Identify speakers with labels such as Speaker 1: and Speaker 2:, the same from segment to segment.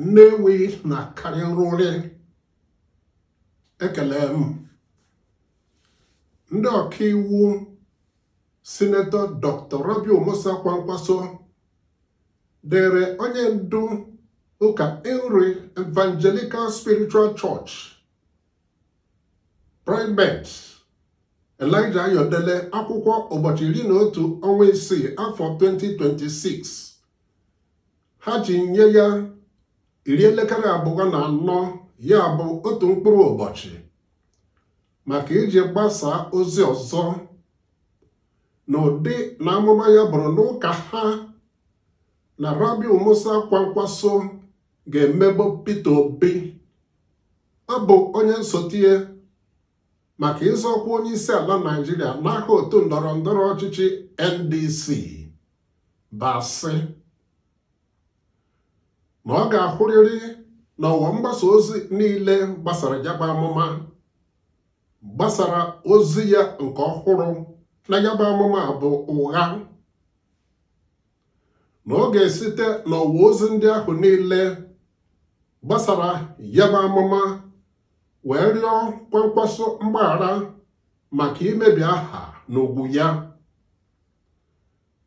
Speaker 1: Ndeewo na-akarị nrụrị ekele m ndị ọkaiwu sinetọ Dr. Rabiu Musa Kwankwaso deere onye ndu ụka Inri Evangelical Spiritual Church Primate Elijah Ayodele akwụkwọ ụbọchị iri na otu ọnwa isii afọ 2026 ha ji nye ya iri elekere abụọ na anọ ya bụ otu mkpụrụ ụbọchị maka iji gbasaa ozi ọzọ na ụdị na amụma ya buru n'ụka ha na Rabiu Musa Kwankwaso ga-emegbu Peter Obi ọ bụ onye nsote maka ịzọ ọkwa onye isi ala Naịjirịa n'aha otu ndọrọ ndọrọ ọchịchị NDC bụ asị na ọ ga-ahụrịrị na ọwa mgbasa ozi niile gbasara ya bụ amụma gbasara ozi ya nke ọhụrụ na ya bụ amụma bụ ụgha na ọ ga-esite n'ọwa ozi ndị ahụ niile gbasara ya bụ amụma wee rịọ Kwankwaso mgbaghara maka imebi aha na ugwu ya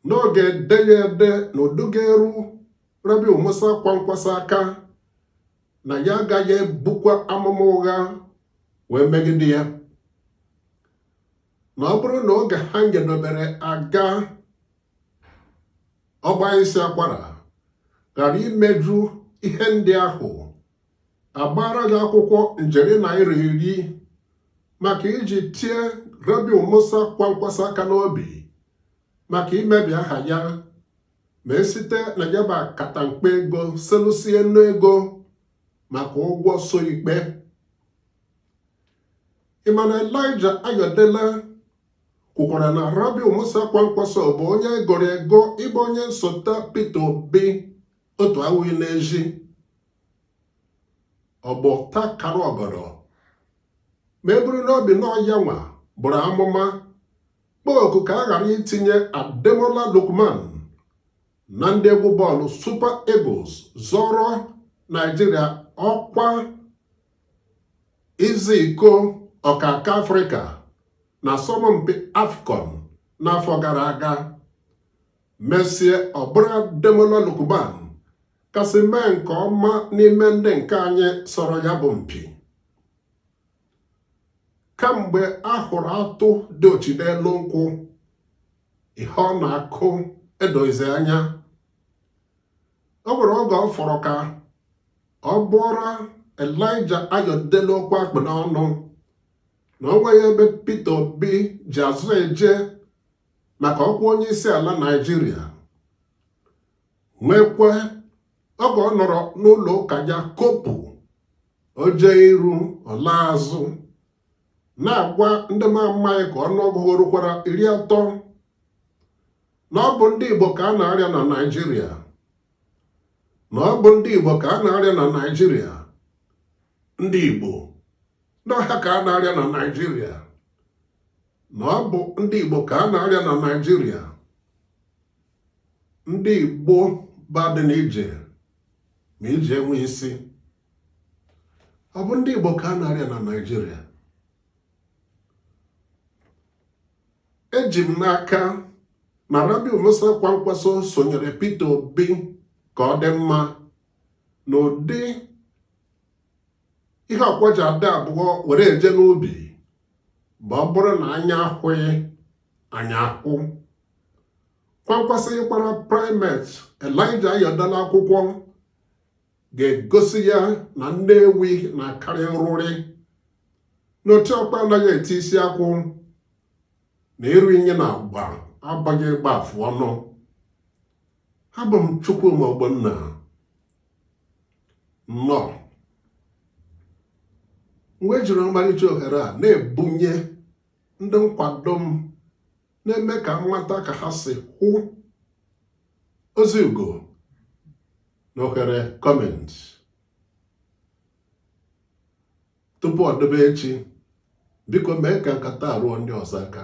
Speaker 1: na ọ ga-ede ya ede n'ụdị ga-eru Rabiu Musa Kwankwaso aka na ya agaghị ebukwa amụma ụgha wee megide ya na ọ bụrụ na oge ahụ e dobere agaa ọ gbaa isi akwara ghara imeju ihe ndị ahụ a gbaara ya akwụkwọ njeri naira iri maka iji tie Rabiu Musa Kwankwaso aka n'obi maka imebi aha ya ma e site na ya bụ akatamkpo ego selụsie nnu ego maka ụgwọ so ikpe ị ma na Elijah Ayodele kwukwara na Rabiu Musa Kwankwaso bụ onye e goro ego ịbụ onye nsota Peter Obi otu awụghị n'ezi ọgbọ takara ọgọdọ ma e buru n'obi na ọ yanwa buru amụma kpọọ oku ka a ghara itinye Ademola Lookman na ndị egwu bọọlụ Super Eagles zọrọ Naijiria ọkwa izi iko ọkaka Afrịka na asọmpi AFCON n'afọ gara aga mesịa ọ bụrụ Ademola Lookman kasị mee nke ọma n'ime ndị nke anyị sọrọ ya bụ mpi kamgbe a hụrụ atụ diochi n'elu nkwụ ihe ọ na-akụ edoghizi anya o nwere oge ọ fọrọ ka ọ bụọra Elijah Ayọdele okwu a kpụ n'ọnụ na o nweghị ebe Peter Obi ji azụ eje maka ọkwa onye isi ala Naịjirịa nwekwa oge ọ nọrọ n'ụlọ ụka ya kopụ oje iru ọla azụ na-agwa ndị m amaghị ka ọnụọgụgụ ha rukwara iri atọ na ọ bụ ndị Igbo ka a na-arịa na Naịjirịa na ọ bụ ndị Igbo ka a na-arịa na Naịjirịa ndị Igbo n'ọha ka a na-arịa na Naịjirịa na ọ bụ ndị Igbo ka a na-arịa na Naịjirịa ndị igbo badị na ije ma ije enwe isi ọ bụ ndị igbo ka a na-arịa na naijiria eji m n'aka na Rabiu Musa Kwankwaso sonyere Peter Obi ka ọ dị mma n'ụdị ihe ọkwa ji adị abụọ were eje n'ubi bụ ọ bụrụ na anya ahụghị anya ahụ Kwankwaso ịgbara primate Elijah Ayọdele akwụkwọ ga-egosi ya na nne ewi na-akarị nrụrị na otu ọkpa anaghị eti isi akwụ na ịrụ inyi na agba abụghị ịgba afụ ọnụ abụ m Chukwuma Ogbonna nọ mgbe jiri ọmarịcha ohere a na-ebunye ndị nkwado m na-eme ka m mata ka ha si hụ ozi ugo na ohere comment tupu ọ dịbe echi biko mee ka nkata a ruo ndị ọzọ aka